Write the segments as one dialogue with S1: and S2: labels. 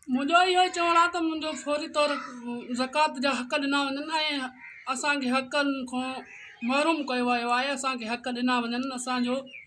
S1: منهنجو اهو ئي چوڻ آهي ته منهنجو فوري طور زڪوات جا حق ڏنا وڃن ۽ اسان کي حقن کان محروم ڪيو ويو آهي اسان کي حق ڏنا وڃن اسان جو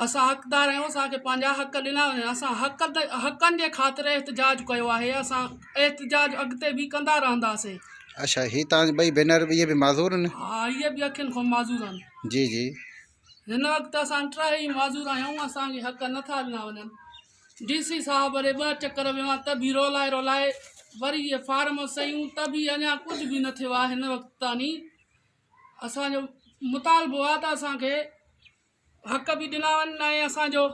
S1: اسان حقدار آهيون اسان کي پنهنجا حق ڏنا وڃن اسان حق حقن جي خاطر احتجاج ڪيو آهي اسان احتجاج اڳتي به ڪندا رهنداسين اڇا هي تان
S2: ٻئي بينر به به معذور آهن ها هي به اکين کان
S1: معذور آهن جي جي
S2: هن وقت
S1: اسان ٽرهي معذور آهيون اسان کي حق نٿا ڏنا وڃن ڊي سي صاحب وري ٻه چڪر ويو آهي ته به رولائي رولائي وري هي فارم سيون ته به اڃا ڪجهه به نه ٿيو آهي هن وقت تاني اسان جو مطالبو آ ته اسان کي حق به ڏنا وڃن ۽ اسان جو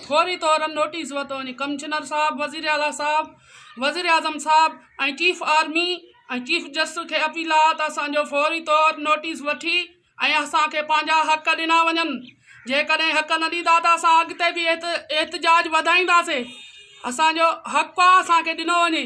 S1: فوري طور نوٽيس ورتو وڃي ڪمشنر صاحب وزير اعلٰي صاحب وزير اعظم صاحب ۽ چيف آرمي ۽ چيف جسٽس کي اپيل آ ته اسان جو فوري طور نوٽيس وٺي ۽ اسان کي پنهنجا حق ڏنا وڃن جيڪڏهن حق نه ڏيندا ته اسان اڳتي به احتجاج وڌائينداسي اسان جو حق آ اسان کي ڏنو وڃي